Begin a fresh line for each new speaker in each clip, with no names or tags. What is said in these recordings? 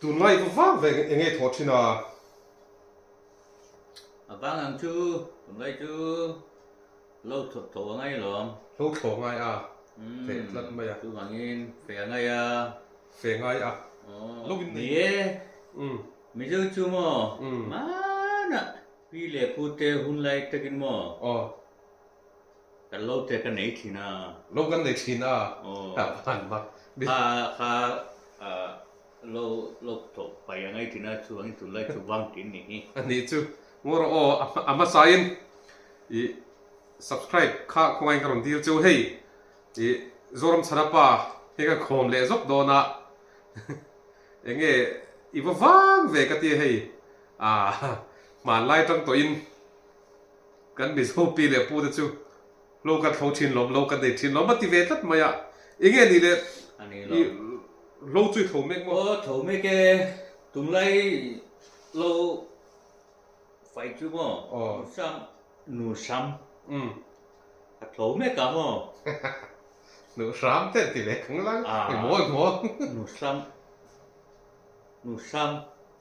Tun ngai ka vang ve eng nge thawh thin a. A vang ang chu tun ngai chu lo thawt tho a ngai lawm. Lo thaw ngai a fe tlat mai a. Chuvangin fe a ngai a. Fe ngai a. Lo in nei. Ni e, Mizo chu maw hmanah pi leh pute hun lai takin maw Kan lo te ka nei thin a. Lo kan nei thin a. Aww. Apan mak. Kha kha lo lo tlo pai a ngai thin a chuang in tun lai chu vang thin ni hi. A ni chu. Ngo rawh aw a hmasa in i subscribe kha khawnga in ka rawn dil chu hei i Zoram chhana pa hi ka khawm leh zawk dawn a eng nge i va vang ve ka tia hei a hmanlai tang tawh in. Kan mizo pi leh pu te chu lo kan thlo thin lawm, lo kan nei thin lawm a ti ve tlat mai a, i nge ni le? A ni lo. Lo chu i tho mek maw? Aw, tho mek e, tunglai lo fai chu maw? Aw. Nu Sam, Nu Sam. Umm. A tho mek ang aw. Nu Sam te an ti ve kanglang. Aw. Emaw emaw. Nu Sam, Nu Sam.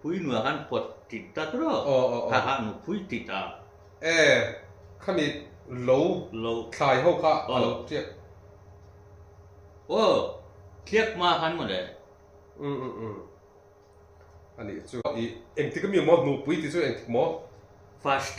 Phui nuaih khan pawt tit ta tur aw. Aw aw aw. Kha kha nu phui tit a. E, khani lo. Lo. Thlai ho kha a lo tliak. Aw, tliak hma khan maw le. Um um um. Anih chu. Ih, engtik a mi maw? Nu phui tih chu engtik maw? First.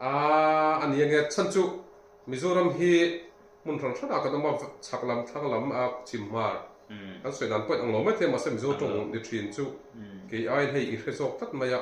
A ani a nia chhan chu Mizoram hi hmun hran hran ah kan awm a, chhak lam, thlang lam, chim hmar kan sawi dan pawhin ang lo maithei mahse Mizo tawng ni thin chu kei aiin hei i hre zawk tlat mai a.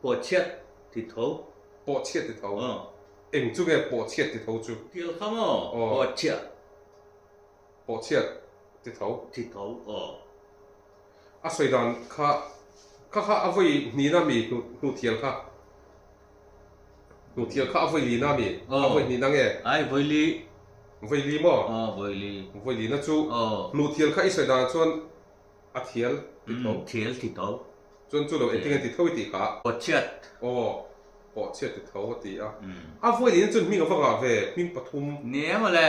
Pawh chhiat ti tho. Pawh chhiat ti tho. Eng chu nge pawh chhiat ti tho chu? Tial kha maw? Pawh chhiah. pawh chhiat ti tho. Ti tho aw. A sawi dan kha kha kha a vawi hni na mi hnu hnu thial kha hnu thial kha a vawi li na mi a vawi hni na nge ai vawi li vawi li maw aw vawi li vawi li na chu aw hnu thial kha i sawi dan chuan a thial ti tho thial ti tho chuan chu lo engtin nge ti tho i tih kha pawh chhiat aw pawh chhiat ti tho a ti a a vawi li na chuan hming avanga ve hming pathum nia maw le.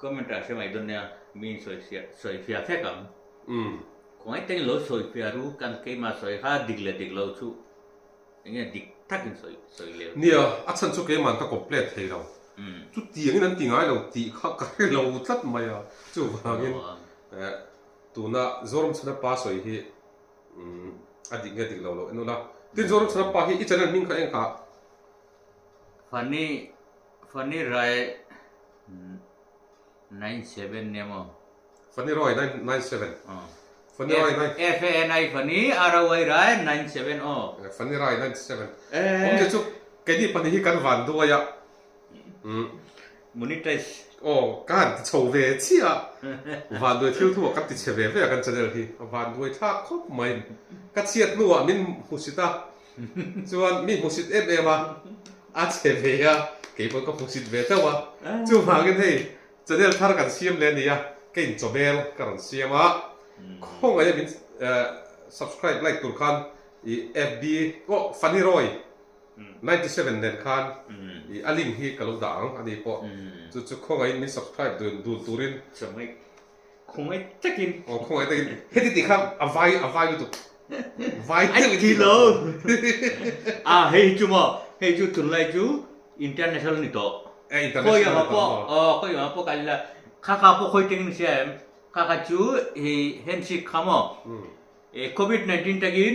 Comment ah hre mai dawn nia min sawi sia sawi fia fek ang khawngai teng in lo sawi fia ru kan keimah sawi kha dik leh dik lo chu enge dik tak in sawi sawi leh nia a chhan chu keimah an ka complete thei lo chutiang in an ti ngai lo tih kha ka hre lo tlat mai a chuvang in eh tuna Zoramchhana pa sawi hi a dik nge dik lo lo en ula tin Zoramchhana pa hi i channel hming kha eng kha? Funny Fani rai nine seven nia maw? Fani rai nine nine seven. Fani rai nine. F A N I fani R O I rai nine seven aw. Fani rai nine seven. Awm zia chu keini pahnih hi kan van duai a. Monetize. Aw ka han ti chho ve chiah a. Van duai thil thu ah kan ti chhe ve ve a kan channel hi. A van duai thlak khawp mai. Ka chhiat hnu ah min hmusit a. Chuan mi hmusit em em a a che ve a, kei pawh ka hmusit ve teuh a, chuvangin hei channel thar kan siam leh nia, ka in chawhmel ka rawn siam a, khawngaia min subscribe like tur khan i fb aw funny roy ninety seven nen khan i a link hi ka lo dah ang ani pawh, chu chu khawngain min subscribe dun dun turin. Khawngaih takin. Aw khawngaih takin heti tih kha a vai a vai lutuk. Vai deuh i thilo. A hei chu maw hei chu tunlai chu international ni tawh. A international ni tawh maw. Aw khawi anga pawh ka la kha kha pawh khawi takin ka sia em. Kha kha chu hei handshake kha maw. E covid nineteen takin.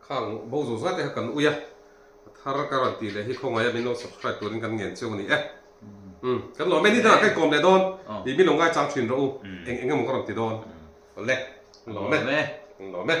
Khang bo zo zat e kha kan ui a a thar ka rawn ti leh hi khawngaih a min lo subscribe turin kan ngen cheu a ni e um kan lo many dang a ka inkawm leh dawn i min lo ngai chang thin rawh u eng eng emaw ka rawn ti dawn awle kan lo meh kan lo meh.